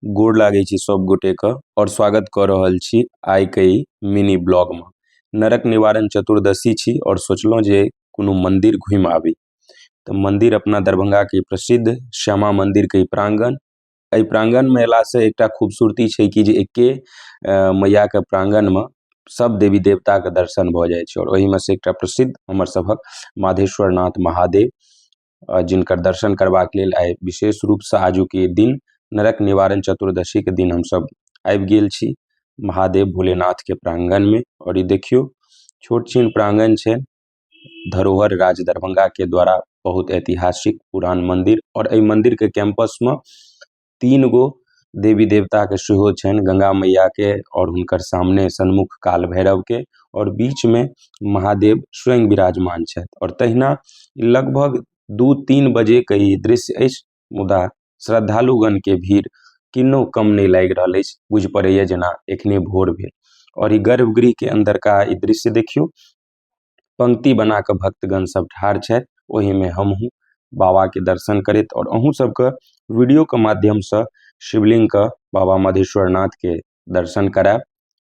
गोड़ लागै छी सब गोटे के और स्वागत क रहल छी आय के इ मिनी ब्लॉग में नरक निवारण चतुर्दशी छी और सोचलो जे कुनू मंदिर घूम आवी ते मंदिर अपना दरभंगा के प्रसिद्ध श्यामा मंदिर के इ प्रांगण ए प्रांगण में ऐला से एकटा खूबसूरती छै की जे एके मैया के प्रांगण में सब देवी देवता के दर्शन भ जाय छै और ओहि में से एकटा प्रसिद्ध हमर सभक माधवेश्वर नाथ महादेव आ जिनकर दर्शन करबाक लेल आइ विशेष रूपसँ आजुक ई दिन नरक निवारण चतुर्दशीक दिन हमसभ आबि गेल छी महादेव भोलेनाथके प्राङ्गणमे आओर ई देखियौ छोट छिन प्राङ्गण छै धरोहर राज दरभंगाके द्वारा बहुत ऐतिहासिक पुरान मन्दिर आओर एहि मन्दिरके कैम्पसमे तीन गो देवी देवताके सेहो छनि गङ्गा मैयाके आओर हुनकर सामने सन्मुख काल भैरवके आओर बीचमे महादेव स्वयं विराजमान छथि आओर तहिना लगभग दू तीन बजेके ई दृश्य अछि मुदा श्रद्धालुगणके भीड़ किन्नौ कम नहि लागि रहल अछि बुझि पड़ैए जेना एखने भोर भेल आओर ई गर्भगृहके अन्दरका ई दृश्य देखियौ पंक्ति बना कऽ भक्तगण सब ठाढ़ छथि ओहिमे हमहुँ बाबाके दर्शन करैत आओर अहूँ सबके वीडियोके माध्यमसँ शिवलिङ्गके बाबा मधेश्वर नाथके दर्शन करायब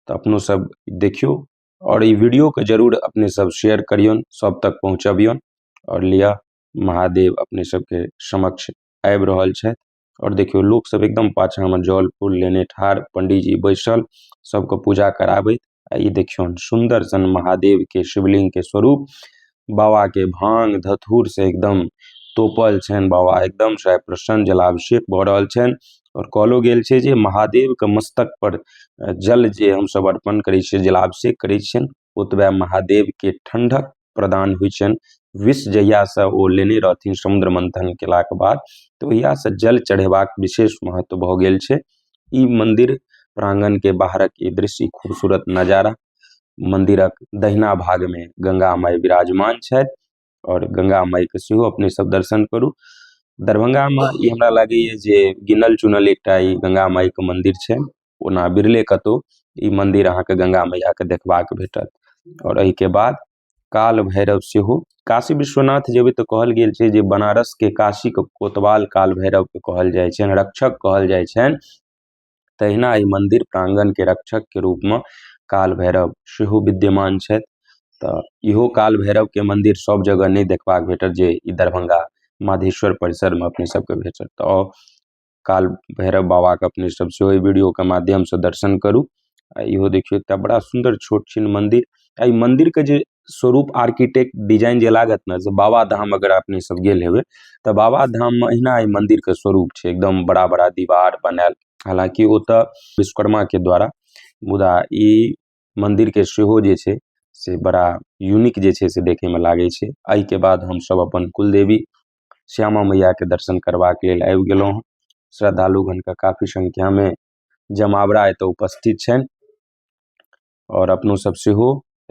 तऽ अपनो सब देखियौ आओर ई वीडियोके जरूर अपने सब शेयर करियौन सब तक पहुँचबियौन आओर लिअ महादेव अपने सबके समक्ष आबि रहल छथि आओर देखियौ लोकसभ एकदम पाछाँमे जल फूल लेने ठाढ़ पण्डीजी बैसल सभके पूजा कराबैत आ ई देखियौन सुन्दर सन महादेवके शिवलिंगके स्वरूप बाबाके भाङ्ग धथुरसँ एकदम तोपल छनि बाबा एकदमसँ आइ प्रसन्न जलाभिषेक भऽ रहल छनि आओर कहलो गेल छै जे महादेवके मस्तकपर जल जे हमसभ अर्पण करै छियै जलाभिषेक करै छियनि ओतबहि महादेवके ठण्डक प्रदान होइ छनि विष जहियासँ ओ लेने रहथिन समुद्र मन्थन कयलाके बाद तऽ ओहियासँ जल चढ़ेबाक विशेष महत्व भऽ गेल छै ई मन्दिर प्राङ्गणके बाहरक ई दृश्य खूबसूरत नजारा मन्दिरक दहिना भागमे गंगा माइ विराजमान छथि आओर गंगा माइके सेहो अपने सब दर्शन करू दरभंगामे ई हमरा लागैए जे गिनल चुनल एकटा ई गंगा माइके मन्दिर छै ओना बिरले कतहु ई मन्दिर अहाँके गङ्गा मैयाके देखबाक भेटत आओर एहिके बाद काल भैरव सेहो काशी विश्वनाथ जेबै तऽ कहल गेल छै जे बनारसके काशीके कोतवाल काल भैरवके कहल जाइ छनि रक्षक कहल जाइ छनि तहिना एहि मन्दिर प्राङ्गणके रक्षकके रूपमे काल भैरव सेहो विद्यमान छथि तऽ इहो काल भैरवके मन्दिर सब जगह नहि देखबाक भेटत जे ई दरभंगा माधेश्वर परिसरमे अपने सबके भेटत तऽ काल भैरव बाबा के अपने सब सेहो ए वीडियो के माध्यम से दर्शन करू आ इहो देखियो एकटा बड़ा सुंदर छोट छीन मंदिर ए मंदिर के जे स्वरूप आर्किटेक्ट डिजाइन जे लागत ने से बाबा धाम अगर अपने सब गेल हेबे ते बाबा धाम में एहना ए मंदिर के स्वरूप छै एकदम बड़ा-बड़ा दीवार बनाएल हालांकि ओता विश्वकर्मा के द्वारा मुदा इ -- मन्दिरके सेहो जे छै से बड़ा यूनिक जे छै से देखैमे लागै छै एहिके बाद हमसभ अपन कुलदेवी श्यामा मइआके दर्शन करबाके लेल आबि गेलहुँ हँ श्रद्धालुगणके काफी सँख्यामे जमावड़ा एतऽ उपस्थित छनि आओर अपनोसभ सेहो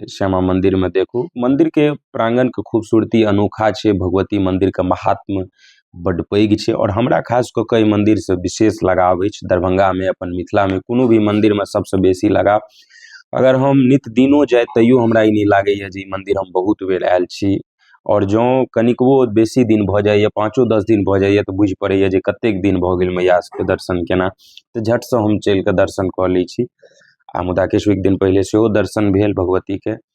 श्यामा मन्दिरमे देखू मन्दिरके प्राङ्गणके खूबसूरती अनोखा छै भगवती मन्दिरके माहात्म बड्ड पैघ छै आओर हमरा खास कऽ कऽ एहि मन्दिर सऽ विशेष लगाव अछि दरभंगामे अपन मिथिलामे कोनो भी मन्दिरमे सबसे बेसी लगाव अगर हम नित दिनो जाइ तैयो हमरा ई नहि लागैया जे ई मन्दिर हम बहुत बेर आयल छी आओर जँ कनिकबो बेसी दिन भऽ जाइया पाँचो दस दिन भऽ जाइया तऽ बुझि पड़ैया जे कतेक दिन भऽ गेल मैया सबके दर्शन केना तऽ झट सऽ हम चलि कऽ दर्शन कऽ लै छी आ मुदा किछु एक दिन पहिले सेहो दर्शन भेल भगवतीके